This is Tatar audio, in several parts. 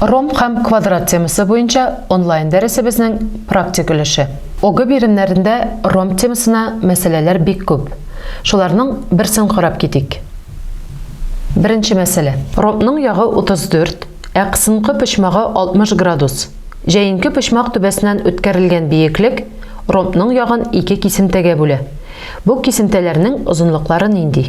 Ромб һәм квадрат темасы буенча онлайн дәресебезнең практик өлеше. ОГЭ биремнәрендә ромб темасына мәсьәләләр бик күп. Шуларның берсен карап китик. Беренче мәсьәлә. Ромбның ягы 34, ә кысынкы почмагы 60 градус. Җәенке почмак түбәсеннән үткәрелгән биеклек ромбның ягын ике кисемтәгә бүлә. Бу кисемтәләрнең озынлыклары нинди?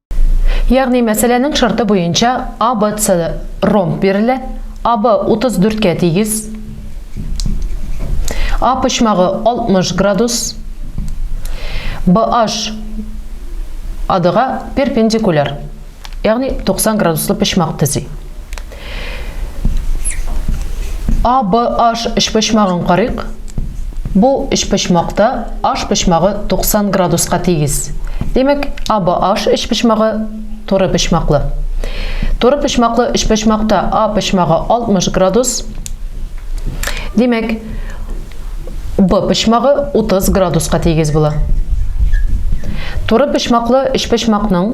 Ягъни мәсьәләнең шарты буенча ABC ромб бирелә, AB 34 кә тигез, A почмагы 60 градус, BH AD га перпендикуляр, ягъни 90 градуслы почмак төзи. ABH өчпочмагын карыйк. Бу өчпочмакта H почмагы 90 градуска тигез. Димәк, ABH өчпочмагы туры почмаклы. Туры почмаклы өчпочмакта A почмагы 60 градус. Димәк, B почмагы 30 градуска тигез була. Туры почмаклы өчпочмакның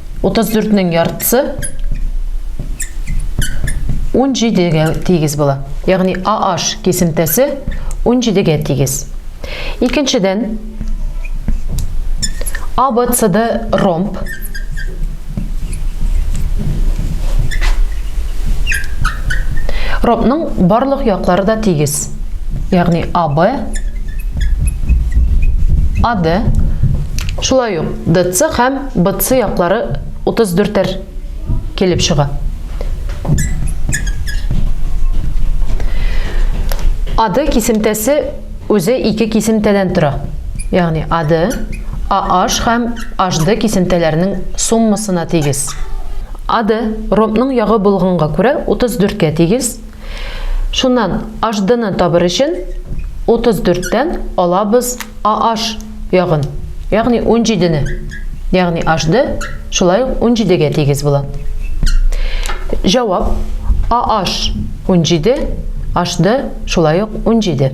34 нең яртысы 17 гә тигез була. Ягъни AH кисемтәсе 17 гә тигез. Икенчедән ABCD ромб Ромбның барлык яклары да тигез. Ягъни AB AD шулай ук DC һәм Бытсы яклары утыз дүртәр килеп чыга. Ады кисемтәсе үзе ике кисемтәдән тора. Ягъни ады, АH һәм HD кисемтәләренең суммасына тигез. Ады ромбның ягы булганга күрә 34 кә тигез. Шуннан HD-ны табыр өчен 34 тән алабыз AH ягын, ягъни унҗидене, ягъни h-ды шулай ук унҗидегә тигез була. Җавап, AH унҗиде, h-ды шулай ук унҗиде.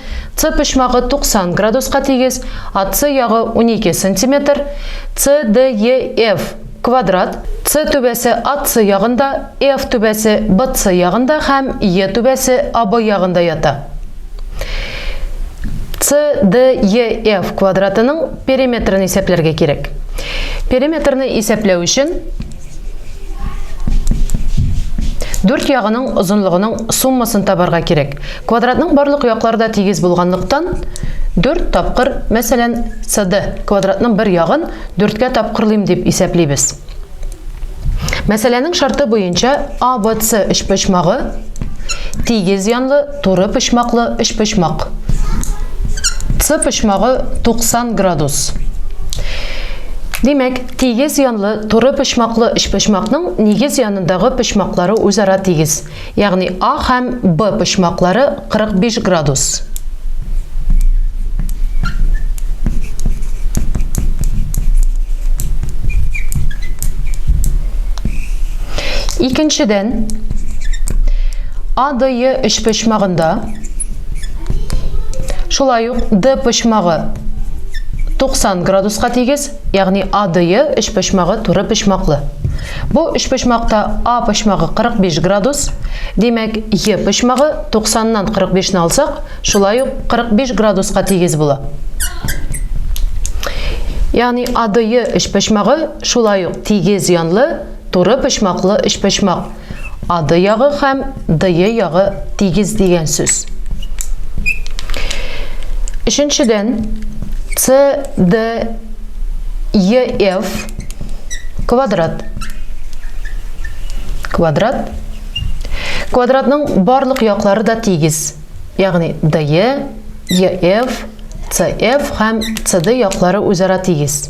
С почмагы 90 градуска тигез, АС ягы 12 см, CDEF квадрат, С түбәсе АС ягында, EF түбәсе BC ягында һәм E түбәсе AB ягында ята. CDEF квадратының периметрын исәпләргә кирәк. Периметрны исәпләү өчен Дүрт ягының озынлыгының суммасын табарга кирәк. Квадратның барлык яклары да тигез булганлыктан, дүрт тапкыр, мәсәлән, CD квадратның бер ягын дүрткә тапкырлыйм дип исәплибез. Мәсьәләнең шарты буенча ABC өчпочмагы тигез янлы Туры почмаклы өчпочмак. С почмагы 90 градус. Димәк, тигез янлы туры почмаклы өчпочмакның нигез янындагы почмаклары үзара тигез, ягъни А һәм Б почмаклары 45 градус. Икенчедән, АДЕ өчпочмагында шулай ук Д почмагы 90 градуска тигез, ягъни АДЕ өчпочмагы туры почмаклы. Бу өчпочмакта А почмагы 45 градус, димәк, Е почмагы 90-нан 45-не алсак, шулай ук 45 градуска тигез була. Ягъни АДЕ өчпочмагы шулай ук тигез янлы Туры почмаклы өчпочмак. Ады ягы һәм дые ягы тигез дигән сүз. Өченчедән, С, Д, Е, Ф квадрат. Квадрат. Квадратның барлык яклары да тигез. Ягъни дые, Е, Ф, С, Ф һәм С, Д яклары үзара тигез.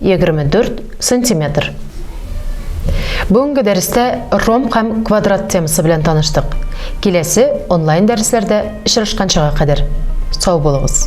24 сантиметр. Бүгенге дәрестә ромб һәм квадрат темасы белән таныштык. Киләсе онлайн дәресләрдә очрашканчыга кадәр сау булыгыз.